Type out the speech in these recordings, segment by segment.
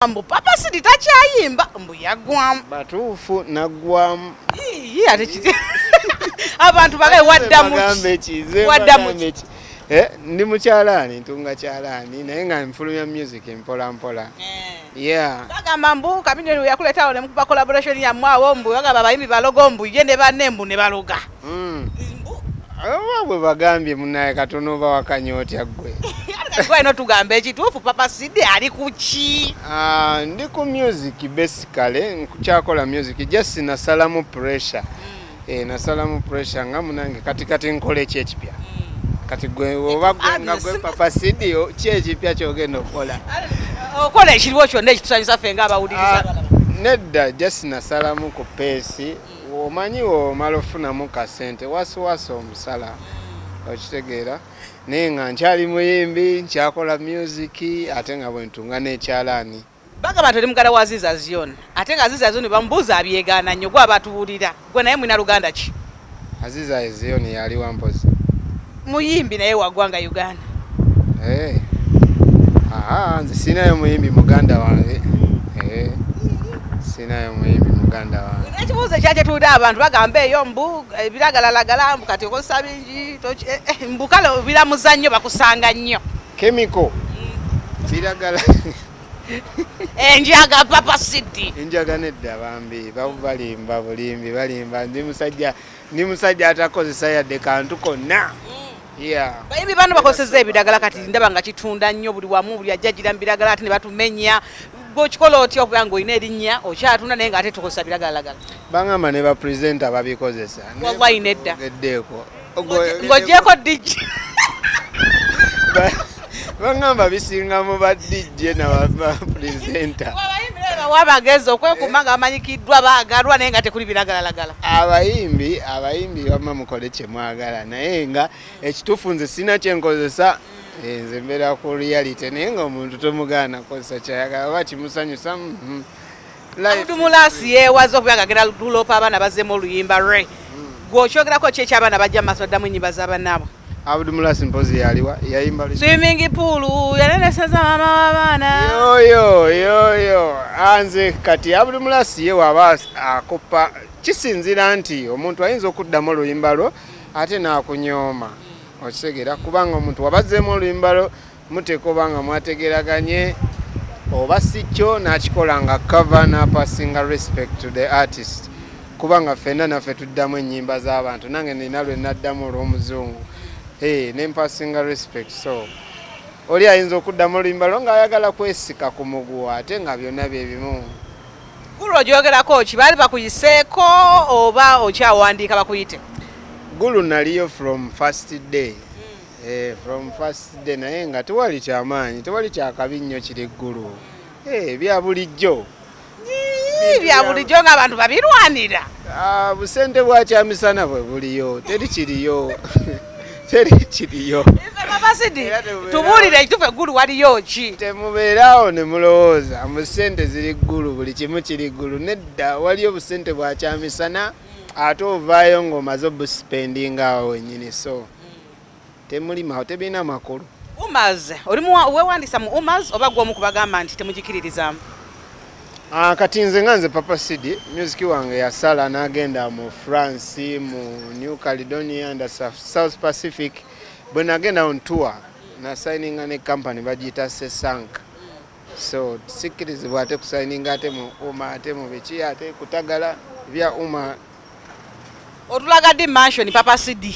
mbu papa sidi takyayimba mbu yagwamu batuufu nagwamu abantu bagae waddamuwaddamuki eh, ndi mukyalaani ntunga kyalaani naye nga nfulumya music mpola mpola eh. bagamba mbu kabinyo yakuletawo nemukuba collaboration yamwe awo mbu bagamba abayimbi balogo mbu ye ne banne mbu ne baloga Hmm. oba bwe bagambye munaye katono oba wakanya otya ggwe eno tugamba ekituufu papa sidi ali kuki ah, ndi ku music basically nkukyakola music just nasalamu pressure hmm. eh, nasalamu pressure nga munange kati kati nkola eki ekipya hmm. kati gwe oba gwe nga gwe papa sidi ki ekipya kyogenda okukola okola ekiriwo kyonna ekitusanyusa ffe nga abawuliriza ah, nedda just nasalamu ku peesi omanyi womala ofunamu kasente wasiwasi omusala okitegeera naye nga nkyali muyimbi nkyakola music ate nga bwentunga nekyalaani bagamba nti oli mugala wa ziza zion ate nga ziza zion bamubuuza abyegaana nnyo gwe abatuwulira gwe naye mwina luganda ki aziza zion yali wampozi muyimbi naye wagwanga uganda eh. nze sinayo muyimbi muganda wange eh. sinayo muyimbi muganda wange ekibuuzo ekyakyetulira abantu bagamba eyo mbu ebiragalalagala eh, mbu kati okozesa bingi mbu kale biramuza nnyo bakusanga nnyo kemiko mm. biragala enjaga papa sidi enjaga nedda bambi balimba bulimbi balimba ndi musajja ndi musajja atakozesa yadde kantu konna bayibi bano bakozeseza ebiragala kati ndaba nga kitunda nnyo buli wamu buli ajja gira mubiragala ate ne batumenya gwokikola otya okuba nga olina erinnya okyatunda naye nga ate tukozesa biragalalagala baŋamba ne bapresenta babikozesa wallayi nedda eddeeko ng'ogyeko digi bangamba bisinga mu ba dj nabapresenta wabagezi okwekuma nga bamanyikiddwa bagalwa naye nga tekuli biragalalagala abayimbi abayimbi bama mukole kyemwagala naye nga ekituufu nze sina kyenkozesa eh, nze mbeera ku reality naye nga omuntu tomugaana kozesa kyayagala oba kimusanyusa mm-hmm. abudu mulasi yewaza okuba nga agenda luloopa abaana bazemu oluyimba re hmm. gwe okyogerako ki ekyabaana bajja mu maaso addamu enyimba zabanaabwe abudu mulasi mpozi yaliwa yayimba swimingi puulu yalereseza maama w'abaana yoyo yoyo anze kati abudu mulasi ye waba akoppa kisinzira nti omuntu ayinza okuddamu oluyimba lwo ate n'akunyooma okitegera kubanga omuntu wabazeemu oluyimba lwo muteeka oba nga mwategeraganye oba si kyo n'akikola nga cover n'apasinga respect to the artist kubanga ffenna naffe tuddamu ennyimba z'abantu nange nina lwe naddamu olw'omuzungu e ne mpasinga respect so oli ayinza okuddamu oluyimba lwo ng'ayagala kwesika ku muguwa ate nga byonna bye bimu gulu ogyogerako ki baali bakuyiseeko oba okyawandiika bakuyite gulu naliyo from first day Eh, from first day naye nga tewali kyamaanyi tewali kyakabi nnyo kiri ggulu eh, bya bulijjo bya bulijjo ngaabantu babirwanira ah, busente bwakyamisana bwe buliyo teri kiriyo teri kiriyo abasidi tubuulire ekitufu eggulu waliyo ki temubeeraawo ne mulowooza mu sente ziri ggulu buli kimu kiri ggulu nedda waliyo busente bwakyamisana ate ovaayo ng'omaze obusipendinga awo wenyini so temuli mawo tebirina makulu umaz oli wewandisa mu umaz oba gwomu kubagamba nti temugikiririzamu ah, kati nze nga nze papa cd music wange yasala nagenda mu france mu new caledonia and south pacific bwe nagenda on tour nasayininga ne company bagiyita sesanka so sikirizibwa ate kusayininga ate mu uma ate mu biki ate kutagala bya uma otulaga di mansion papa sidi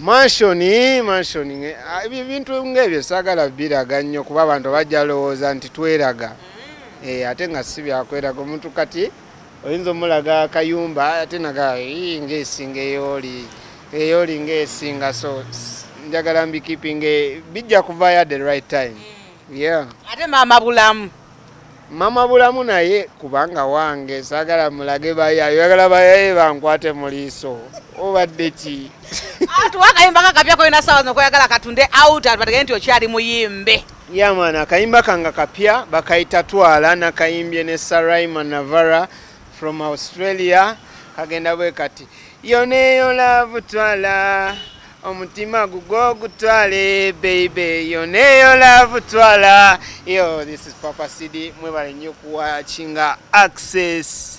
mansion mansion ah, ebintu ngaebyo sagala biraga nnyo kuba abantu bajja lowooza nti tweraga mm. eh, ate nga si byakweraga omuntu kati oyinza omulaga kayumba ate naga ngaesinga eyoli eyoli ngaesinga so njagala mbikipinge bijja kuvayo at the right time mm. yeah ate maama bulamu mama bulamu naye kubanga wange sagala mulage bayaye yagala bayaye bankwate mu liiso obadde ki atuwa akayimba kakapya koyina sawa nokoyagala katunde out atubategee nti okyali muyimbe yamana yeah, akayimba kanga kapya bakayita twala nakayimbye ne saraima navara from australia kagenda bwe kati yoneyo lavu twala omutima gugwo gutwale baby yoneyo love twala yo this is papa cd mwebale nnyo kuwakinga access